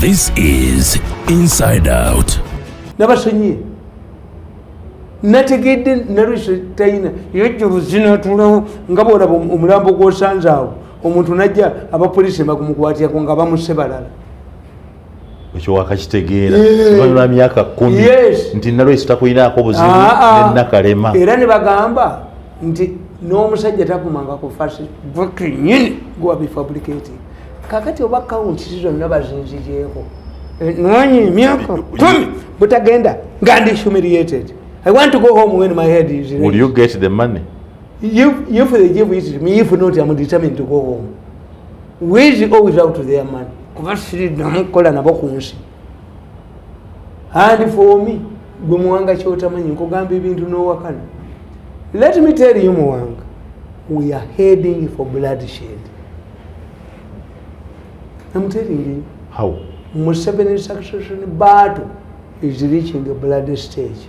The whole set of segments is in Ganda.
This is Inside Out. Nabasonyiye. Nategedde narwisha tayina yejjuru zina tulawo nga bwolaba omulambo gw'osanze awo omuntu najja abapoliisi bakumukwatira ku nga bamusse balala ekyo wakakitegeera lwa myaka kumi nti nalwesi takulinaako buzibu ah, ah. nenakalema era ne bagamba nti n'omusajja tagumanga ku fasinyini gwabifabricati kakati oba kawuntisi zonna bazinzijeeko eh, nwanyi emyaka kumi butagenda nga ndi humiliated i want to go home when my head is will you get the money if, if they give it to me if not i'm determined to go home with or without their money kuba sirinamu okukola nabo ku nsi and for me gwe muwanga kyotamanyi nkugamba ebintu nowakana let me tell you muwanga we are heading for blood shed am telling you how museveni succession battle is reaching a blood stage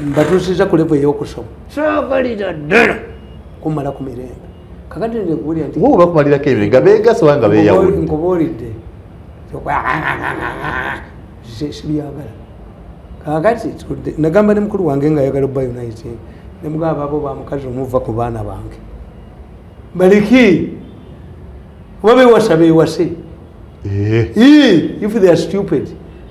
mbatuusiza ku levo eyokusoma saagalira ddala kumala ku mirembe kakati nze kuwulira nti oba bakumalirako ebyo nga beegasa oba nga beeyawula nkubuulidde sibyagala kakati tudde nagamba ne mukulu wange nga ayagala oba unite ne mugamba abo ba mukazi omuva ku baana bange baliki oba bewasa bewase eh. if they are stupid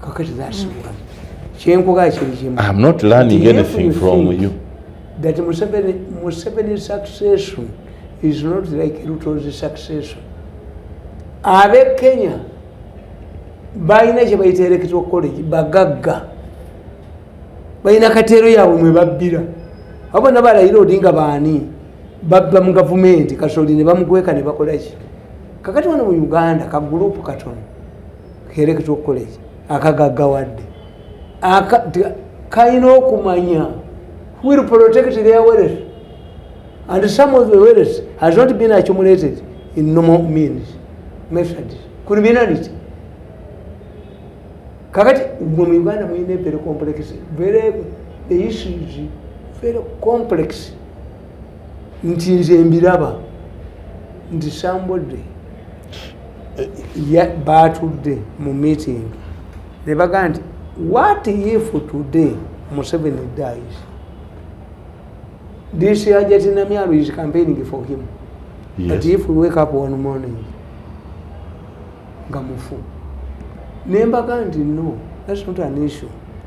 kakati that's mm. one kyenkuga kiri kimu i'm not learning anything from you that museveni museveni succession is not like ruto's succession abe kenya balina kyebayita electoral college bagagga balina kateero yaabwe mwe babbira abo bona balayira odinga baani babba mu gavumenti kasoli ne bamukweka ne bakolaki kakati wano mu uganda ka gurupu katono kereketa okukola eki akagaggawadde kalina okumanya will protect their wealth and some of the wealth has not been accumulated in normal means method criminality kakati mwe mu uganda mulina ebere complex very the issues very complex nti nze mbiraba nti sambodde eh, baatudde mu meeting ne bagamba nti what if today museveni dies this ajati namyalo is campaigning for him yes. but if we wake up one morning nga mufu ne mbaga nti no that's not an issue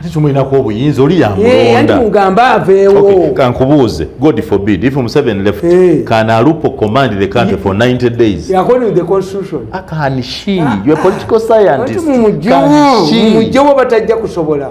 ate tumulinako obuyinza oli yamulondamugamba aveewo kankubuuze god forbid if museven left hey. can alupo command the country for 90 days according to the constitution ah, can she ah, you are political ah, scientist mumujjewo batajja kusobola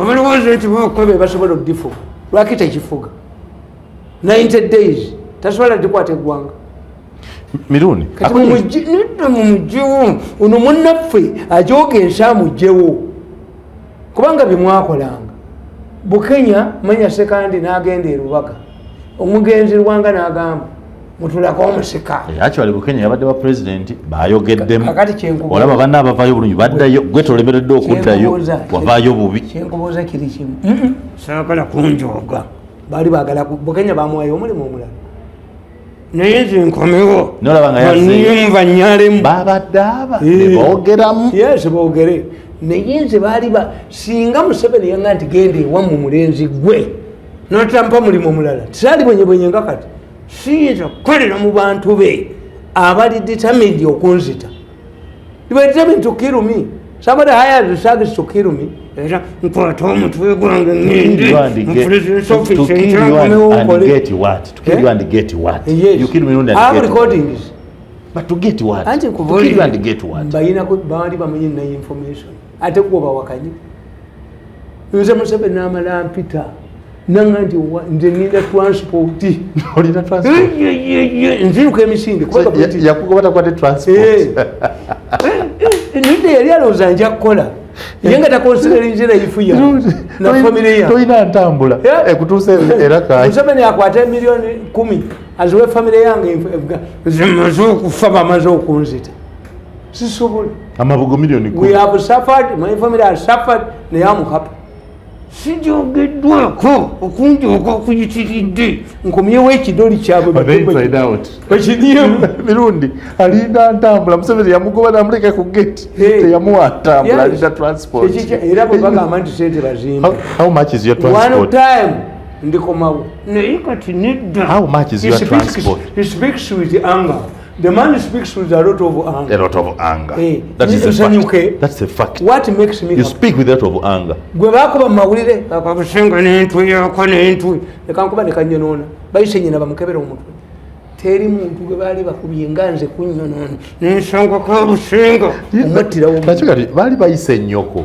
abalowooza nti bakuba be basobola okugifuga lwaki tekifuga 90 days tasobola dikwata eggwanga mirundi mumugyewo ono munaffe ajoga ensi amugyewo kubanga byemwakolanga bukenya manya sekandi nagenda erubaga omugenzi lwanga nagamba mutulako omusika eh, actually bukenya yabadde wa president bayogeddemu olaba banna abavayo bulungi baddayo gwe tolemeredde okuddayo wavayo bubi kyenkubuuza kiri kimu saagala kunjooga baali bagala bukenya bamuwayo omulimu omulala naye nze nkomewo nolabangayumva nyalemu babadde aba eh. nebogeramu yes bogere naye nze baali singa museveni yanga nti genda ewamu mulenzi gwe notampa mulimu omulala tisali bwenyebwenye nga kati siyinza kukolera mu bantu be abali determined okunzita determined to kill me somebody hires the service to kill me era nkwata omutwe gwange ngende mfulizsofismbayina baali bamanyi naye information ate kuba bawakanyi nze musebe namala mpita nanga nti nze ninda transpoti nziruka emisinde nidde yali alowooza nja kukola ye nga takonsidelinze nayifuya nafamiryatolina ntambula ekutuusa eramuseveni akwata emiliyoni kumi aziwe famire yange nzimaze okufa bamaze okunzita sisobola amabugo milioni we have suffered my family has suffered naye am happy sijogeddwako okungi oga okuyitiridde nkomyewo ekidoli kyabwemirundi alinda ntambula museveni yamugoba namuleka ku gate teyamuwa ntambula alinda transportera bwebagamba nti sente bazimbaone time ndikomawo naye kati nedda The man speaks with a lot of anger. A lot of anger. Hey, eh, that is a fact. That's a fact. What makes me You happy? speak with a lot of anger. Gwe bakuba mawulire akabusinga n'entu yako n'entu leka nkuba ne kanyonoona bayise nyina bamukebera omutwe teri muntu gwe baali bakubye nga nze kunyonoona n'ensonga kabusinga omuttirawo nakyo kati baali bayise nnyoko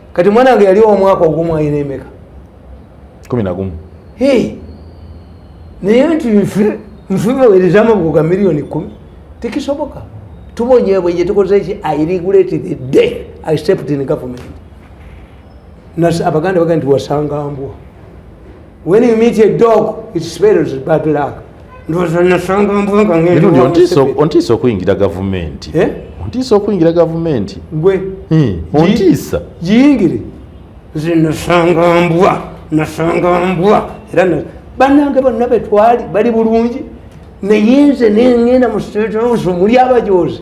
kati mwana wange yali omwaka ogumu ayina emeka kumi nagumu naye nti nfibawerezamu buga miliyoni kumi tekisoboka tubonyebwenye tukozeki i regulate the day i stepped in government abaganda baga nti wasanga mbwa When you meet a dog, it spells bad luck. ontiisa okuyingira gavumenti eh? ontiisa okuyingira gavumenti gwe hmm, ontiisa giyingire nze nasanga mbwa nasanga mbwa era banange bonna betwali bali bulungi naye nze nengenda mu state house muli abajozi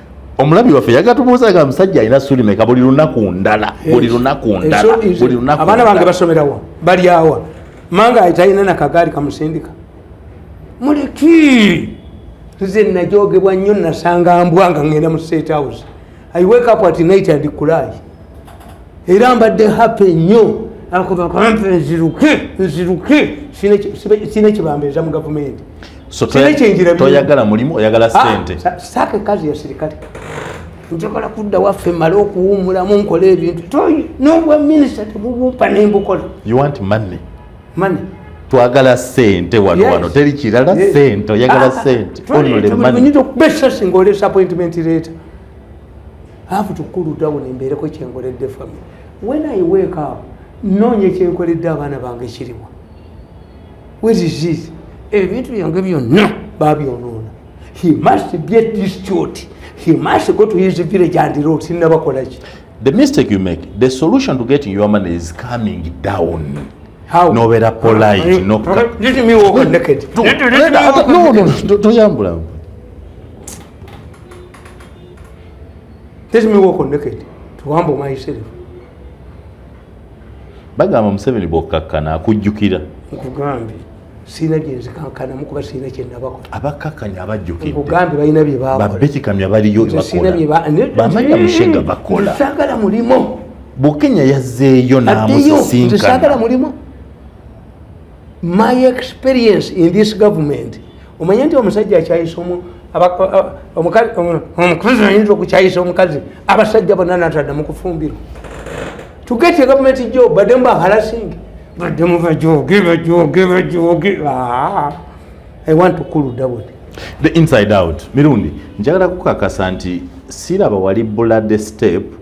omulabi waffe yagatubuuza ga musajja alina ssuuli meka buli lunaku ndala buli lunaku ndala buli lunaku abaana bange basomerawa balyawa manga ayitalina nakagaali kamusindika muleki nze najogebwa nnyo nasanga mbwa nga ngenda mu state house i wake up at night and cry era mbadde hape nnyo akubakampe nziruke nziruke sina ekibambeeza mu gavumenti toyagala mulimu oyagala ah, sente saaka ekazi ya sirikale njagala kudda waffe male okuwumulamu nkola ebintu toyi nobwa minisita tebubumpa nembukola mane twagala sente wano wano teri kirala sente oyagala ah, ah, sente onole mane okuba esasi ngaolesa appointment leeta have to cool down embeereko kyenkoledde family when i wake up noonya kyenkoledde abaana bange kiriwa weriziz ebintu byange byonna babyonoona he must be a district he must go to his village and road sinabakolaki the mistake you make the solution to getting your money is coming down nobeera polite notoyambula Let me walk on naked to humble myself. Bagamba Museveni bw'okkakkana akujjukira. Nkugambe sirina gye nzikankanamu kuba sirina kye nabakola. Abakkakkanya abajjukidde. Nkugambe balina bye baakola. Babekikamya baliyo bye bakola. Bamanya Mushenga bakola. Saagala mulimo. Bukenya yazzeeyo n'amusisinkana. Saagala mulimo. My experience in this government omanye nti omusajja akyayisa omukazi ayinza okukyayisa omukazi abasajja bonna natadda mukufumbirwa tugete gavumenti jo badde mu bahalasingi badde mu bajoge bajoge bajoge ah, i want to cool down the inside out mirundi njagala kukakasa nti siraba wali bulade step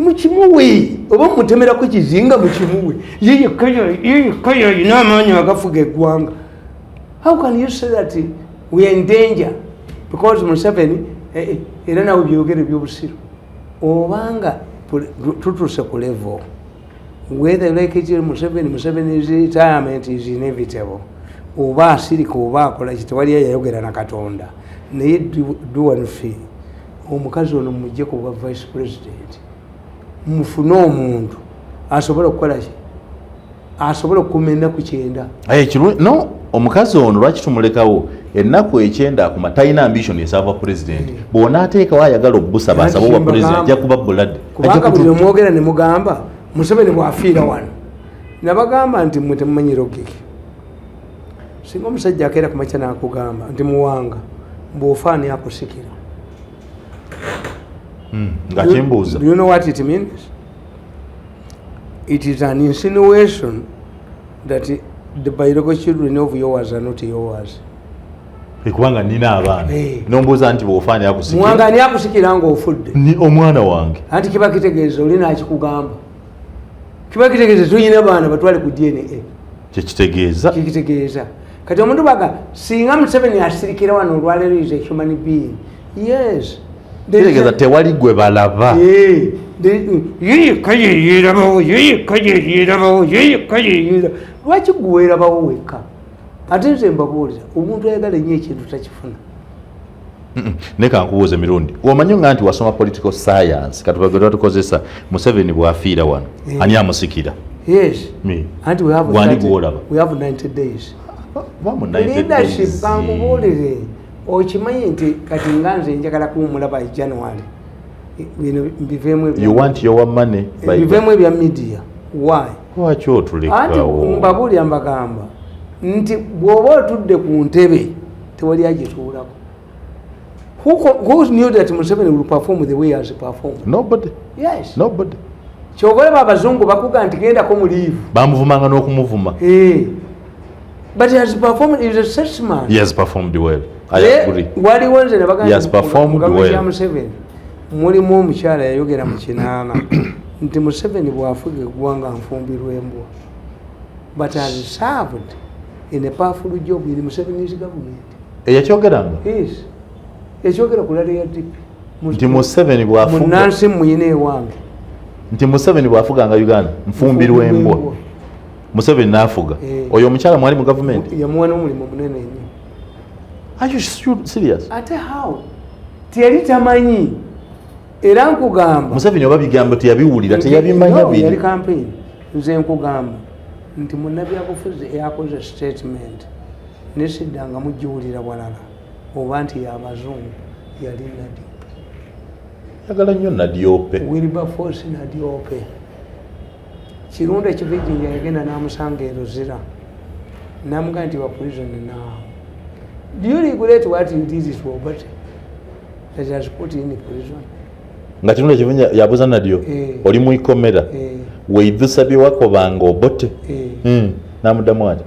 mukimuwe oba mutemerako ekizinga mukimuwe yeyekka yalina amaanyi agafuga eggwanga how can you say that we are in danger because museveni eh, eh, era nawe byogere byobusiru obanga tutuuse ku level whether like it museveni museveni is retirement is inevitable oba asirika oba akola kitewali yayayogera na katonda naye do one thing omukazi ono mumujje ku bwa vice president mufune omuntu asobola okukola ki asobola okukuma ennaku kyenda eh, no omukazi ono lwaki tumulekawo ennaku ekyenda akuma talina ambition esava president eh. bwona ateekawo ayagala okubusaba asaba obwa president ajja kuba bulade kubanga buli omwogera ne mugamba museveni bwafiira wano nabagamba nti mwe temumanyira ogeke singa omusajja akeera ku makya nakugamba nti muwanga bwofaani akusikira hmm, nga kimbuuza you know what it means it is an insinuation that the biological children of yours are not yours kubanga nina abaana eh. nombuuza nti bwofaani akusikiramwanga ani akusikira nga ofudde omwana wange anti kiba kitegeeza olina akikugamba kiba kitegeeza tuyina baana batwale ku dna kyekitegeeza kyekitegeeza kati omuntu baga singa museveni asirikira wano olwaleero is a human being yes kitegeeza tewali gwe balaba yeyekayeyerabawo yeyekayeyerabawo yeyekayeyera lwaki gwe werabawo wekka ate nze mbabuuliza omuntu ayagala enyo ekintu takifuna naye kankubuuze mirundi omanyi nga nti wasoma political science katubagera tukozesa museveni bwafiira wano eh. ani amusikira wani gwolaba okimanyi nti kati nga nze njagala kuwumula by january bino mbiveemu ebya media why lwaki otulekawo anti mbabuulira mbagamba nti bw'oba otudde ku ntebe tewali agituulako who, who knew that museveni will perform the way as performed nobody yes nobody kyobalaba abazungu bakuga nti gendako mu liivu bamuvumanga n'okumuvuma eh. but he has performed is a salesman he has performed well i eh, agree waliwo nze ne bagamba museveni mulimu omukyala yayogera mu kinaana nti museveni bwafuga eggwanga nfumbirwembwa but as served in a powerful job in museveni's government eyakyogeranga yes yakyogera ku lale ya dp nti museveni bwafumunansi muyina ewange nti museveni bwafuganga uganda nfumbirwembwa museveni nafuga eh. oyo omukyala mwali mu gavumenti yamuwa nomulimu munene nyo Are you serious? Ate how? Tiyali tamanyi. Era nkugamba. Museveni oba bigambo teyabiwulira teyabimanya biri. Yali campaign. Nze nkugamba nti munnabyabufuzi eyakoze statement nesidda nga mugiwulira walala oba nti yabazungu yali nadi yagala nnyo nadiope wilberforce nadiope kirundu ekivijinja yagenda namusanga eruzira namugaa nti waprison now do you regulate what you did it for but that has put in prison nga kirundu ekivijinja yabuza nadyo eh. oli mu ikomera eh. weidhusa byewakobanga obote eh. hmm. namuddamu ati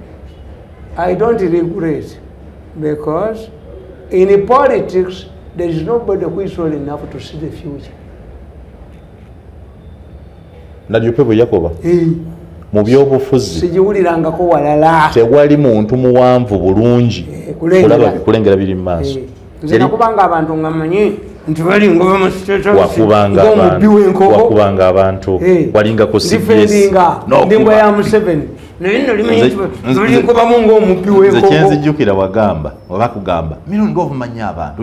i don't regulate because in politics there is nobody who is old enough to see the future najope bwe yakoba eh. mu byobufuzi sigiwulirangako walala tewali muntu muwanvu bulungi eh, kulengera biri mu maaso eh. nze nakubanga abantu nga manyi nti bali ngoba musitewakubanga wakubanga abantu walinga ku cbsndimba ya museveni naye nolimanyibalinkubamu ngaomubbi wenkoko nze kyenzijjukira wagamba oba kugamba mino ndiovumanyi abantu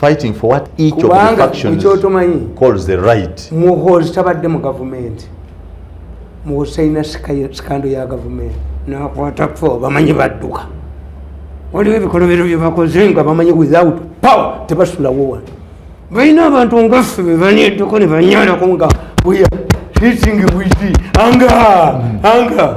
fighting for what each of the factions calls the right muhozi tabadde mu gavumenti muhozi talina sikando ya gavumenti nakwata fo bamanyi badduka waliwo ebikolobero byebakoze nga bamanyi without power tebasulawo wano balina abantu ngaffe bebaneddeko nebanyalako nga weya hitting witi anga anga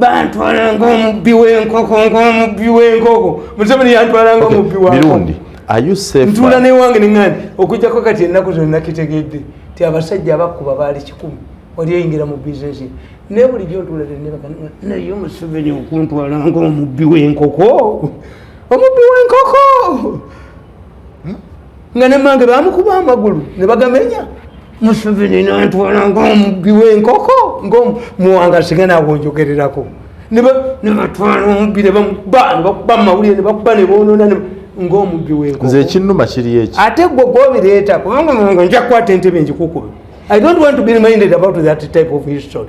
bantwalanga omubbi w'enkoko ng'omubbi w'enkoko museveni yantwalanga omubbi wamirundi ntuula newange neŋani okujjako kati ennaku zonna kitegedde ti abasajja abakuba baali kikumi oli oyingira mu bizinesi naye bulijjo ntuula tenebaka naye museveni okuntwalanga omubbi w'enkoko omubbi w'enkoko hmm? nga ne mange bamukuba amagulu ne bagamenya museveni nantwala ngaomubbi wenkoko ngomuwanga singa nawo njogererako nebatwala omubbi nebamukuba nebakuba mumawulire nebakuba nebonona ngaomubbi wenkoko nze ekinuma kiri eki ate gwe gwobireeta kubanga nja kukwata entebe njikukube i don't want to be reminded about that type of history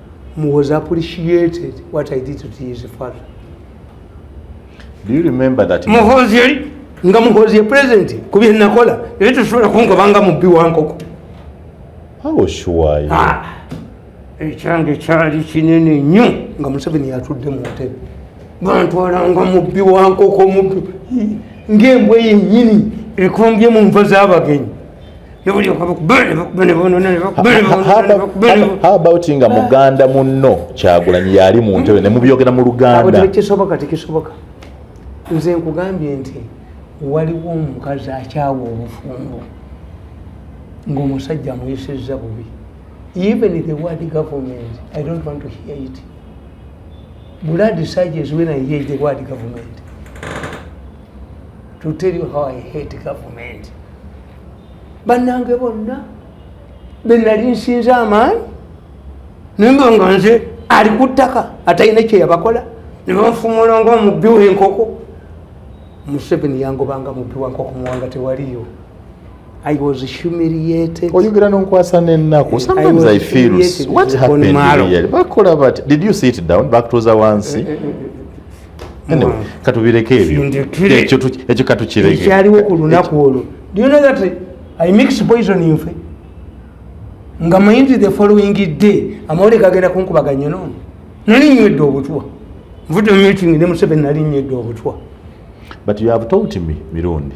was appreciated what I did to his father. Do you remember that? Muhozi yali nga muhozi ye president ku bye nakola ebyo tusobola kungoba nga mubbi wa nkoko. How was sure? Ah, ekyange kyali kinene nnyo nga Museveni yatudde mu ntebe bantwala nga mubbi wa nkoko mubbi ng'embwa yennyini ekombye mu nva z'abagenyi How about nga muganda munno kyagulanyi yali mu ntebe ne mubyogera mu luganda tekisoboka tekisoboka nze nkugambye nti waliwo omukazi akyawa obufumbo ng'omusajja amuyisizza bubi even the word government i don't want to hear it blood surges when i hear the word government to tell you how i hate government bannange bonna benali nsinza amaanyi nemba nga nze ali ku ttaka atalina kyeyabakola nebamufumula nga omubbi wenkoko museveni yangobanga mubbi wankoko muwanga tewaliyo oyogera nonkwasa nenakubakola bati did you sit down bakutuuza wansi eh, eh, eh, anyway katubireke ebyo ekyo ekyo katukireke ekyaliwo ku lunaku olwo do you know that i mix poison in fe nga mayindi the following day amawole gagenda kunkubaga nyo nono nali nywedde obutwa nvudde mu meeting ne museveni nali nywedde obutwa but you have told me mirundi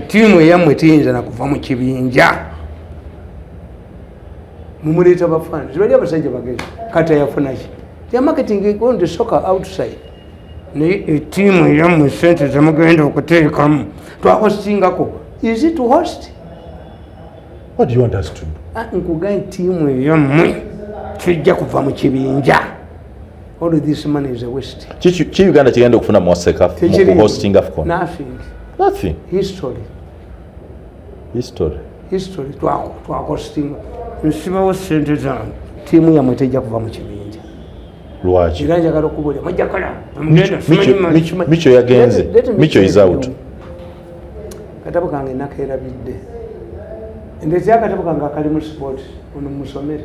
tiimu eyammwe tiyinza nakuva mu kibinja mumuleeta bafana zibali abasajja bagezi kati ayafunaki yamaketing on the soccer outside naye etiimu eyammwe sente zemugenda okuteekamu twahostingako is it host what do you want us to do ah, nkuga entiimu eyammwe tujja kuva mu kibinja All this money is a waste. Chichi chi Uganda chigenda kufuna mu Africa mu hosting Afcon. Nothing. Nothing. History. History. History to our to our hosting. Nsiba wo sente zange. Timu ya mweteja kuva mu kibinja. Lwaji. Kiranja karo kubule. Maja kala. Mgenda. Micho, micho ya genze. Let, let micho is out. Katabu kange nakera bidde. Ndezi ya katabu kange akali mu sport. Unu musomere.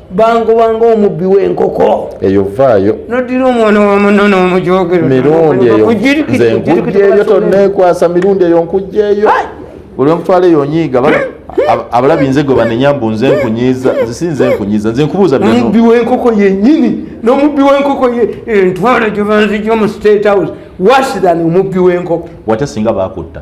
bangoba ngaomubbi wenkoko eyo vaayo nodira omwana wamuno nomujogero mirundi eyo nze nkujjeeyo tonekwasa mirundi eyo nkujjeeyo olwemutwala eyo nyiiga abalabi nze gwe banenya mbu nze nkunyiiza nze si nze nkunyiiza nze nkubuuza omubbi wenkoko yenyini nomubbi wenkoko ye entwala gyebanzija omu state house worse than omubbi wenkoko wate singa bakutta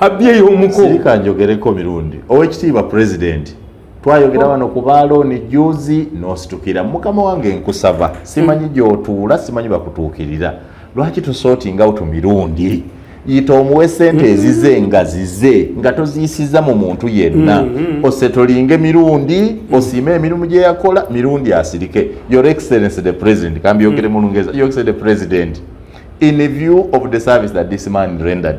abyeyo omuko sirika njogereko mirundi owekitiibwa pulezidenti twayogera wano ku baalooni juzi n'ositukira mukama wange nkusaba simanyi gy'otuula simanyi bakutuukirira lwaki tusootinga utu mirundi yita omuwe sente mm-hmm. ezize nga zize nga toziyisiza mu muntu yenna mm-hmm. osetolinge mirundi mm-hmm. osiime emirimu gye yakola mirundi asirike your excellency the president kambyogere mu lungereza your excellency the president in view of the service that this man rendered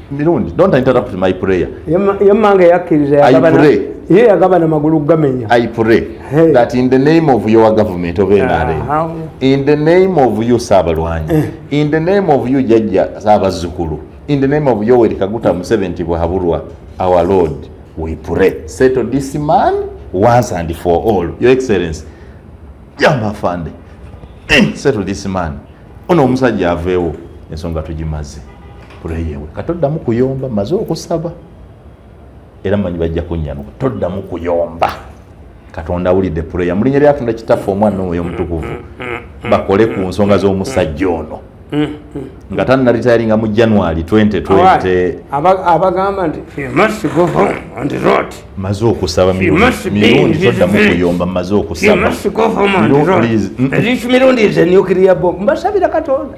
mirundi don't interrupt my prayer yemmanga yakkiriza ye yagabana magulu gamenya i pray hey. that in the name of your government of nrm uh, in the name of you saabalwanyi eh. in the name of you jajja saabazzukulu in the name of yoweri kaguta museveni nti bwahabulwa our lord we pray settle this man once and for all your excellency jamba fande eh, settle this man ono omusajja aveewo ensonga tugimaze pureyewe katoddamu kuyomba maze okusaba era manyi bajja kunyanuka toddamu kuyomba katonda awulidde pureya mulinya lyatonda kitaffe omwana omwoyo omutukuvu bakole ku nsonga z'omusajja ono nga tanalitayalinga mu january 2020 abagamba nti maze okusaba mirundi toddamu kuyomba maze okusaba mirundi is a nuclear bomb mbasabira katonda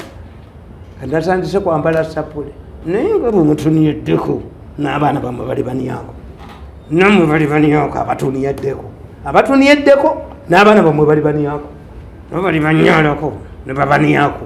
kandatandise kwambala sapule naye nga bwemutunyeddeko n'abaana bamwe bali baniyako namwe bali baniyako abatuniyeddeko abatuniyeddeko n'abaana bamwe bali baniyako nabo bali banyalako nebabaniyako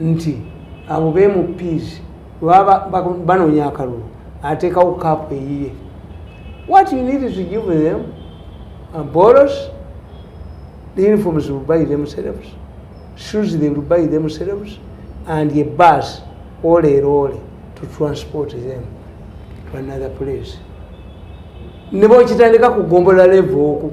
nti abo bemupiizi webaba banoonya akalulu ateekawo kaapu eyiye what you need to give them uh, boros the uniforms will buy themselves shoes they will buy themselves and a bus oleero ole to transport them to another place ne bwokitandika kugombolola levo oku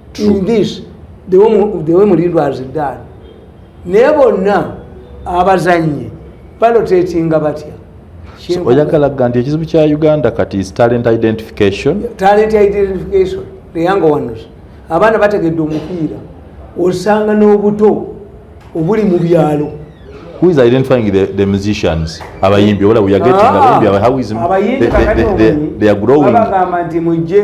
in this the way mulindwa has done naye bonna abazannyi balotetinga batya oyagala ga nti ekizibu kya uganda kati is talent identification talent identification the young ones abaana bategedde omupiira osanga n'obuto obuli mu byalo who is identifying the, the musicians abayimbi ola we are getting ah, abayimbi how is the, the, the, they are growing abagamba nti mujje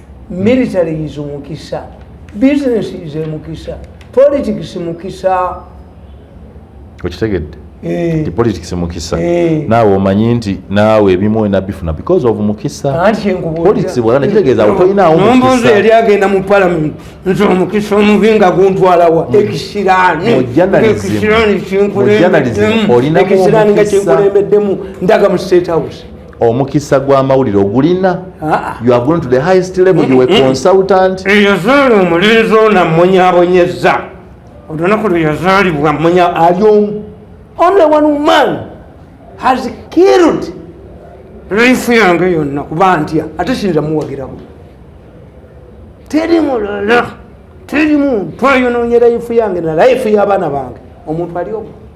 military is mukisa business is mukisa politics mukisa okitegedde eh. politics mukisa eh. naawe omanyi nti naawe ebimu enabifuna because of mukisa politics bwala nekitegeeza awo tolinaawo mukisa eri agenda mu parliament nti omukisa omubi nga guntwalawa mm. ekisiraaniekisiraani kinkulembeddemu ndaga mu state house omukisa gw'amawulire ogulina ah. you have gone to the highest level you were consultant eyazaala omulenzi ono ammunyabonyeza olunaku lwe yazaalibwa munya ali omu only one man has killed life yange yonna kuba ntya ate sinza muwagiramu teri mulala teri muntu ayononyera life yange na life y'abaana bange omuntu ali omu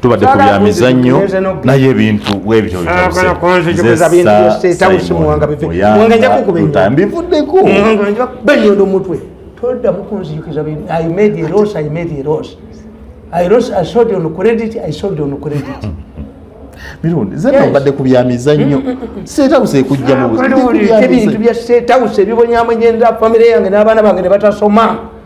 tubadde ku bya mizannyo naye ebintu bwebityo bivuddeko benyondo mutwe toddamu kunzijukiza i made a loss i made a loss i loss i sold on credit i sold on credit mirundi zena obadde ku bya mizannyo mm, mm, mm, seetawusa ekujja mu buzibintu bya seetawusa ebibonyamonyenza famire yange n'abaana bange ne batasoma